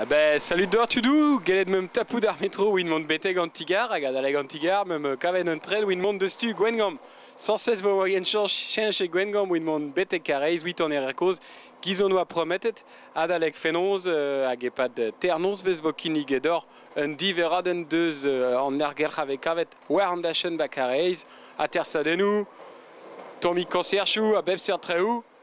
Ben, salut deoc'h tudou Gellet meump tapout ar metro evit mont betek an ti-gar hag adalek an ti-gar meump kavet un tren evit mont deus tu Gwengamp. Sañset vo en cheñch e Gwengamp evit mont betek Karaez evit an êr kozh giz hon oa prometet adalek fenoz hag e-pad ternoz vez vo kinnig deoc'h un diverradenn deus an ergelc'h a vez kavet war an dachenn 'ba Karaez atersadennoù, tammig koñserchoù a bep seurt traoù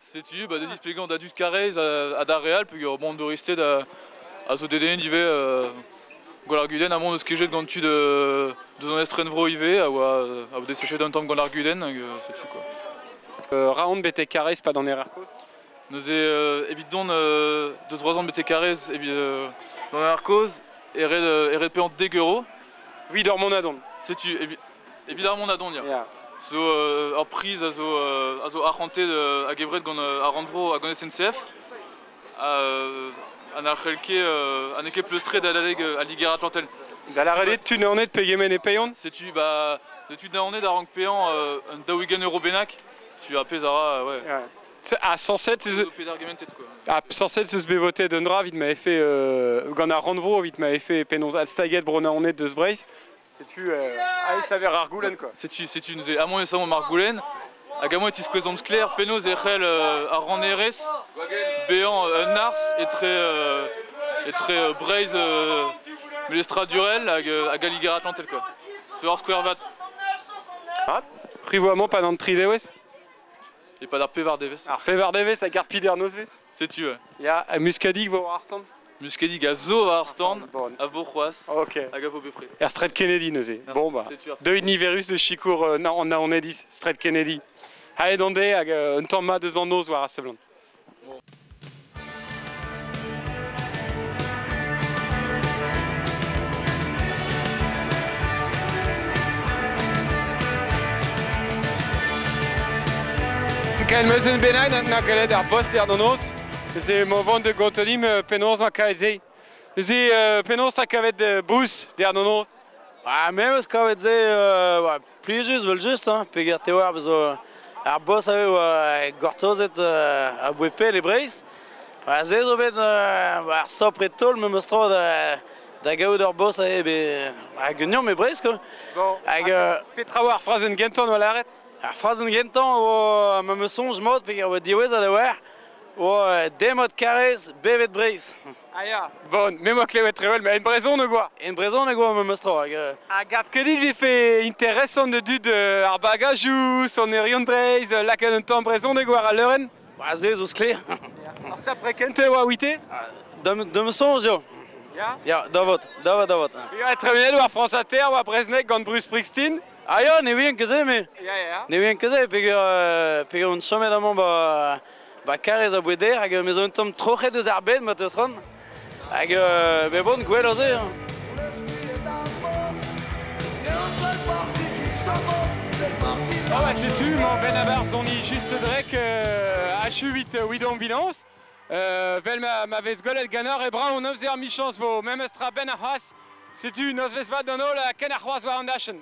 Setu bah, des displegañ da dud Karrez ha d'ar Real peger bon douristed a zo dedennet ivez euh, gant ar Guden a mont eus kejet gant tu de deus an estrenvro ivez a oa a desechet un tamm gant ar Guden hag euh, c'est tout quoi. Euh, raon bete Karrez pas d'an Erarkos Neuze euh, evit don euh, deus roazhon bete Karrez evit euh, d'an Erarkos eret eret pe an dek euro. Oui, d'ur mont a don. Setu Evit ar Mondadonnia. Yeah. Zo ur priz a zo, a zo arc'hantet a gevret gant ar rannvro hag an SNCF. Ha n'ar c'helke ha n'eo ket pleustret d'aleg al Liger Atlantel. Da lavaret, tu naonet pegement e peion Setu, bah, tu naonet a rank pean un daouigen euro bennak. Tu a pez a ra, ouais. Ha 107 eus... Ha 107 eus bet voté d'un dra vit ma fait... gant ar rannvro vit ma fait penaos adstaget bro naonet deus Breizh. Setu aes saver ar goulenn quoi. Setu, setu neuze amour e saomp ar goulenn hag amour e tiskouezomp sklaer penaos e c'hell ar rannerez bezañ un ars etre etre Breizh melestradurel hag, hag al Liger-Atlantel quoi. Zo ar skouer vat. Ah, privo amour pa d'an tri devez E pad ar pevar devez. Ar pevar devez hag ar pider nozvezh Setu. Euh. Ya, ha Muskadig vo war ar stand Muskadig a zo war ar stand, a vo c'hoaz, Ok. hag a vo bepred. Er Stred Kennedy neuze. Bon bah, Setu ar- deuit niverus de sikour euh, na an naonediz, Stred Kennedy. Haet on de hag euh, un tamm mat eus an noz war a seblant. Ken meuzen bennañ na gallet ar boster d'an noz. Neuze emañ vont da gotonim euh, penaos na kavet se. Neuze euh, penaos na kavet euh, bouz der d'an noz. Ah, me eus kavet se Plijus evel-just, hein, peger te oar bezo ar boss a oa gortozet uh, a-bouez pell e Breizh. Ha se zo bet uh, ar stopr e taol memes tro da, da gaout ur boss a eo hag un eom e Breizh, quoi. Bon, hag, uh, petra oa ar frazenn gentañ oa lâret? Ar frazenn gentañ oa memes soñj mod peger oa diwezhat a oa, oa demod karrez bevet Breizh. Ah ya Bon, me moa klevet trewel, mais en brezhoneg oa En brezhoneg oa memes tro hag... euh, A gav ket dit vefe interesant de dud euh, ar bagajoù, sonerion Breizh, euh, lakaat un tamm brezhoneg war al leurenn Ba se zo sklaer. Ar sapre kent e oa ouite Dam dam soñj eo. Ya Ya, da vot, da vot, da vot. Ya, tremenet war France Inter, war Brezhnek gant Bruce Springsteen Ah ya, ne vien ket se, me. Ya, ya, ya. Ne vien ket se, peger, euh, peger un sommet amañ ba Ba karrez a boueder hag me zo un tamm troc'het eus ar bed ma teus ran. Hag euh, me bon gwell aze. Hein. Ah bah c'est tu, mon Benabar Zoni, juste drek euh, H8 Widom Vilans. Euh, vel ma, ma vez golet ganor e bra o nozzer michans vo, memes tra ben a c'hoaz, setu nozvez vad d'an holl a ken a c'hoaz war an dachen.